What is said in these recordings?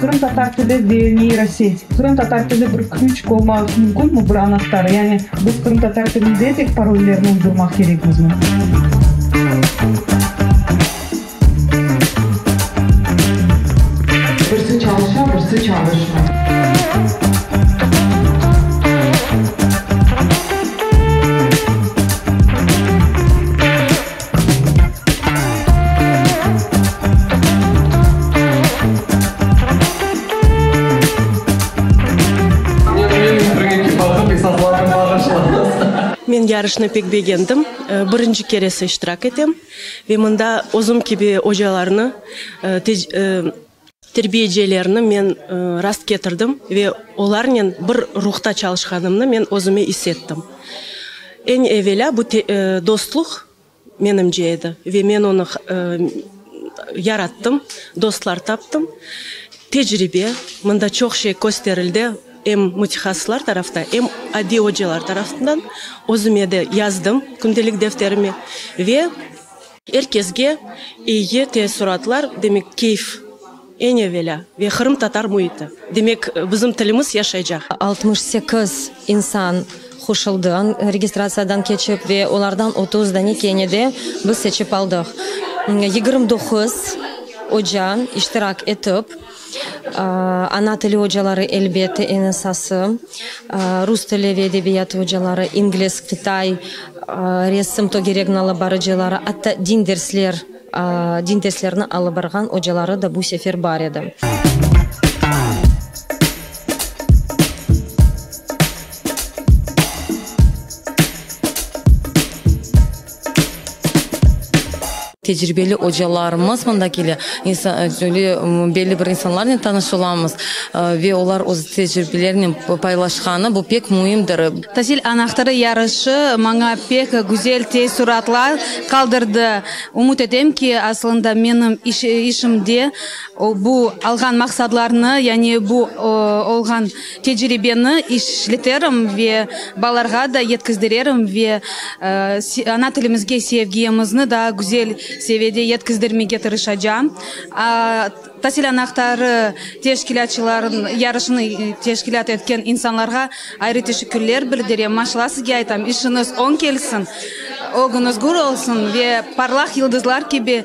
Qırım tatar tili ve neyroseñ. Qırım tatar tili bir küç olmağı mümkünmi, bir anahtar? Yani biz qırım tatar tilinde tek parollerni uydurmaq kerekmizmi? Men yarışnı pek begendim. Birinci keresi iştirak etem. Ve mında özüm kibi ocalarnı, Terbiyecilerni men rast ketirdim ve olarnen bir ruhta çalışqanımnı men özüme is ettim. Eñ evelâ bu dostluq, menimce, edi ve men onı yarattım, dostlar taptım. Tecribe, mında çoq şey kösterildi, em mütehasıslar tarafta, em adiy ocalar tarafından. Özüme de yazdım, kündelik defterime ve. Er kesge eye teessuratlar, demek, keyf, eñ evelâ, ve qırımtatar müiti, demek, bizim tilimiz yaşaycaq. Altmış sekiz insan qoşuldı registratsiyadan keçip, ve olardan otuz danekeni de biz seçip aldıq. Yigirmi doquz oca iştirak etip. Ana tili ocaları, elbette, eñ esası, rus tili ve edebiyatı ocaları, ingliz, qıtay, resim, togeregni alıp barıcıları, atta din dersler, din derslerini alıp barğan ocaları da bu sefer bar edi. Tecribeli ocalarımız mında kele, belli bir insanlarnen tanış olamız, ve olar öz tecribelerinen paylaşqanı, bu pek müimdir. Tasil anahtarı yarışı maña pek güzel teessuratlar qaldırdı. Ümüt etem ki, asılında menim işimde bu alğan maqsadlarnı, yani bu olğan. Tecribeni işleterim ve balalarğa da yetkizdirerim ve ana tilimizge sevgimizni daa güzel seviyede yetkizdirmege tırışacağım. Tasil anahtarı teşkilâtçılarnıñ, yarışnı teşkilât etken insanlarğa ayrı teşekkürler bildirem. Maşallah sizge aytam, işiñiz oñ kelsin, ögüñiz gür olsun ve parlaq yıldızlar kibi,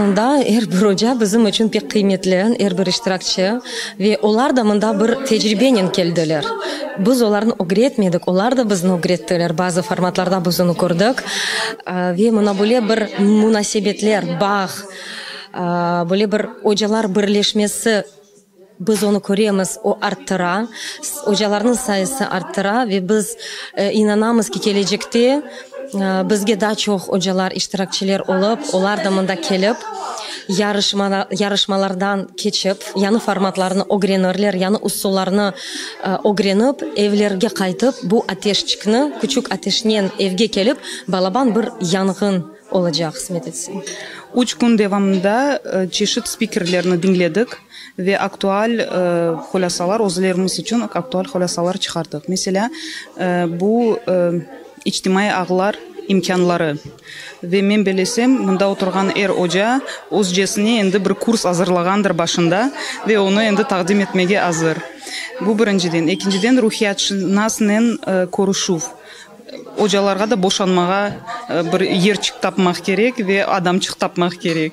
Aslında er bir oca bizim içün pek qıymetli, er bir iştirakçı. Ve olar da mında bir tecribenen keldiler. Biz olarnı ögretmedik, olar da bizni ögrettiler, bazı formatlarda biz onı kördik. Ve mına böyle bir munasebetler, bağ, böyle bir ocalar birleşmesi, biz onı köremiz, o arttıra, ocalarnıñ sayısı arttıra ve biz inanamız ki, kelecekte, Bizge daa çoq ocalar, iştirakçiler olıp, olar da mında kelip, yarışmalardan keçip, yañı formatlarnı ögrenirler, yañı usullarnı ögrenip, evlerge qaytıp, bu ateşçikni, küçük ateşnen evge kelip, balaban bir yanğın olacaq, qısmet etse. Üç kün devamında çeşit spikerlerni diñledik ve aktual hulâsalar, özlerimiz içün aktual hulâsalar çıqardıq. Meselâ, bu, İçtimaiy ağlar imkânları. Ve men belesem, mında oturğan er oca özcesine endi bir kurs azırlağandır başında ve onı endi taqdim etmege azır. Bu birinciden. Ekinciden, ruhiyatşınasnen körüşüv. Ocalarğa da boşanmağa bir yerçik tapmaq kerek ve adamçıq tapmaq kerek.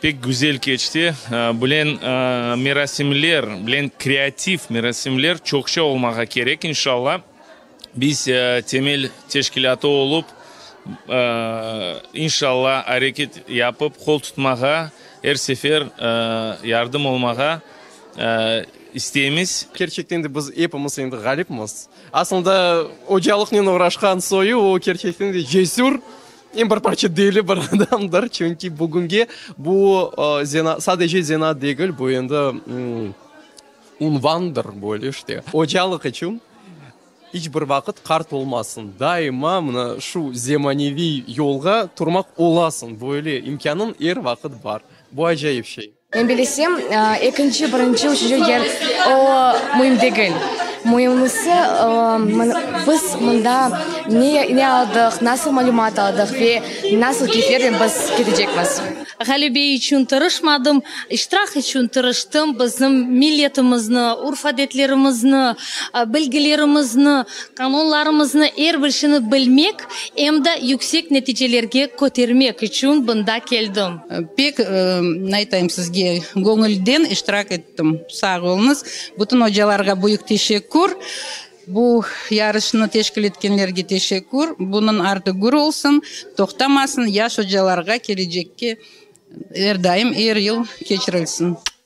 Pek güzel keçti. Bilen merasimler, bilen kreativ merasimler çoqça olmağa kerek, inşalla. Biz temel teşkilâtı olıp, inşalla, areket yapıp, qol tutmağa, er sefer yardım olmağa isteymiz. Kerçekten de biz epimiz endi ğalipmiz. Asılında, ocalıqnen uğraşqan soyu, o, kerçekten de, cesür, Em bir parça deli bir adamdır, çünki bugünge bu zenaat, sadece zenaat degil, bu endi unvandır, böyle işte. Ocalıq içün iç bir vaqıt qart olmasıñ, daima mına şu zemaneviy yolğa turmaq olasıñ, böyle imkânıñ er vaqıt bar. Bu acayip şey. Men bilesem, ekinci, birinci, üçünci yer o müim degil. Müimisi, biz mında ne aldıq, nasıl malümat aldıq ve nasıl keyflernen biz ketecekmiz. Ğalebe içün tırışmadım, iştirak içün tırıştım, bizim milletimizni, urf-adetlerimizni, bilgilerimizni, qanunlarımıznı, er bir şeyni bilmek, Em de yüksek neticelerge kötermek içün bunda keldim. Pek, naytayım sizge, göñülden iştirak ettim. Sağ oluñız. Bütün ocalarğa büyük teşekkür. Bu yarışnı teşkil etkenlerge teşekkür. Bunıñ artı gür olsun, toqtamasın, yaş ocalarğa kelecekke er daim, er yıl keçirilsin.